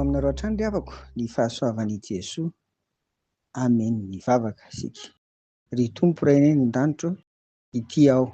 aminareo hatrany ry havako ny fahasoavan'i Jesoa. Amen. Mivavaka isika. Ry Tompo Ray any an-danitro, ity aho.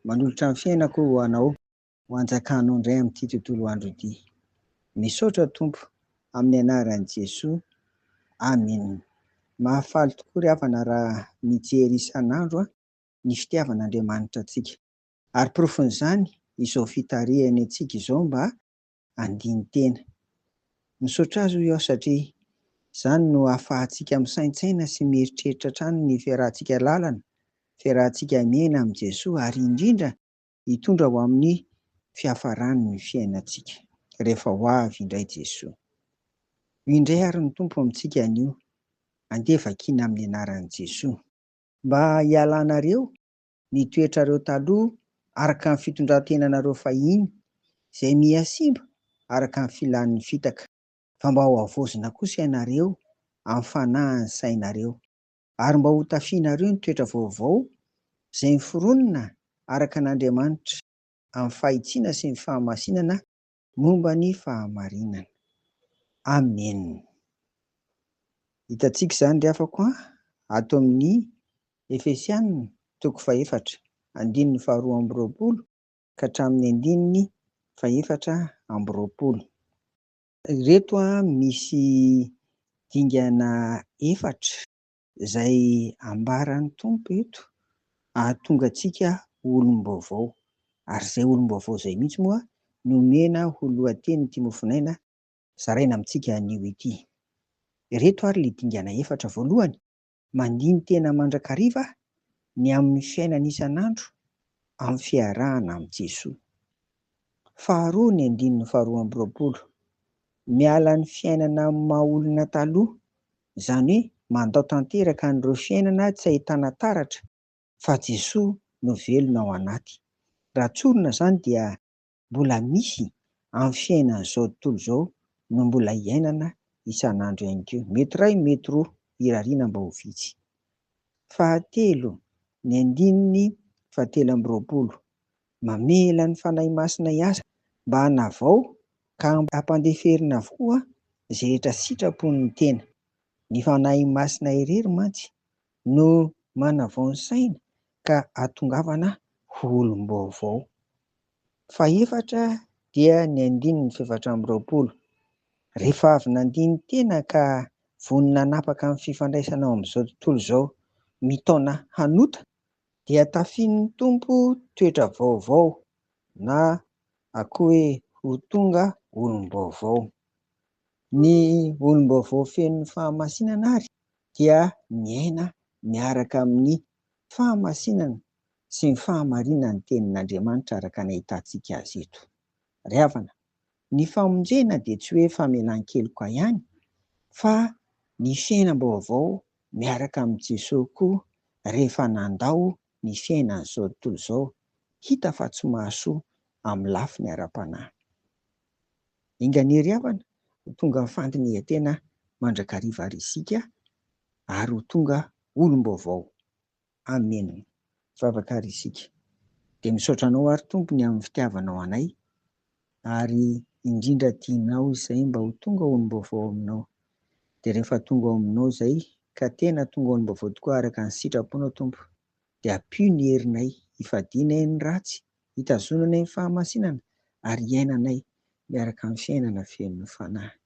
Manolotra ny fiainako ho anao, ho anjakanao indray amin'ity tontolo andro ity. Misaotra Tompo, amin'ny anaran'i Jesoa. Amen. Mahafaly tokoa ry havana raha mijery isan'andro an. ny fitiavan'Andriamanitra antsika. Ary porofon'izany izao fitarihany antsika izao mba handini-tena. Misaotra Azy hoy aho satria izany no ahafahantsika misaintsaina sy mieritreritra hatrany ny fiarahantsika lalana, fiarahantsika miaina amin'i Jesoa ary indrindra hitondra ho amin'ny fiafarany ny fiainantsika rehefa ho avy indray Jesoa. Ho indray àry ny Tompo amintsika anio. Andeha vakiana amin'ny anaran'i Jesoa. Mba hialanareo ny toetrareo taloha araka ny fitondran-tenanareo fahiny, izay miha simba araka ny filan'ny fitaka, fa mba hohavaozina kosa ianareo amin'ny fanahin'ny sainareo, ary mba hotafianareo ny toetra vaovao izay miforonina araka an'Andriamanitra, amin'ny fahitsiana sy ny fahamasinana Momba ny fahamarinana. Amen. Hitantsika izany ry hafako an, ato amin'ny Efesiana toko fahefatra, andininy faharoa amby roapolo ka hatramin'ny andininy fahefatra amby roapolo. Ireto misy dingana efatra. Izay ambaran'ny Tompo eto, hahatonga antsika ho olom-baovao. Ary izay olom-baovao izay mihitsy moa no omena ho lohatenin'ity mofonaina zaraina amintsika anio ity. Ireto ary ilay dingana efatra, voalohany, mandini-tena mandrakariva ny amin'ny fiainana isan'andro amin'ny fiarahana amin'i Jesoa. Faharoa ny andininy faharoa amby roapolo, miala ny fiainana amin'ny maha-olona taloha Izany hoe mandao tanteraka an'ireo fiainana tsy ahitana taratra fa Jesoa no velona ao anaty. Raha tsorina izany dia mbola misy amin'ny fiainan'izao tontolo izao no mbola iainana isan'andro ihany koa. Mety iray, mety roa, irariana mba ho vitsy. Fahatelo, ny andininy fahatelo amby roapolo, Mamela ny Fanahy Masina hiasa mba hanavao ka hampandeferina avokoa izay rehetra sitrapon'ny tena. Ny Fanahy Masina irery mantsy no manavao ny saina ka atongavana ho olom-baovao. Fahefatra dia ny andininy fahefatra amby roapolo. Rehefa avy nandini-tena ka vonona hanapaka ny fifandraisana ao amin'izao tontolo izao mitaona hanota Dia tafian'ny Tompo toetra vaovao na akoa hoe ho tonga olom-baovao. Ny olom-baovao feno fahamasinana ary dia miaina miaraka amin'ny fahamasinana sy ny fahamarinan'ny Tenin'Andriamanitra araka ny ahitantsika azy eto. Ry havana, ny famonjena dia tsy hoe famelan-keloka ihany fa ny fiainam-baovao miaraka amin'i Jesoa koa rehefa nandao ny fiainany izao tontolo izao hita fa tsy mahasoa amin'ny lafiny ara-panahy. Enganiery havana ho tonga fandinihan-tena mandrakariva ary isika ary ho tonga olom-baovao. Amen vavaka ary isika dia misaotra anao ary Tompo ny amin'ny fitiavanao anay ary indrindra tianao izay mba ho tonga olom-baovao aminao dia rehefa tonga ao aminao izay ka tena tonga olom-baovao tokoa araka ny sitraponao Tompo dia ampio ny herinay hifadianay ny ratsy hitazonanay ny fahamasinana ary hiainanay miaraka amin'ny fiainana feno fanahy.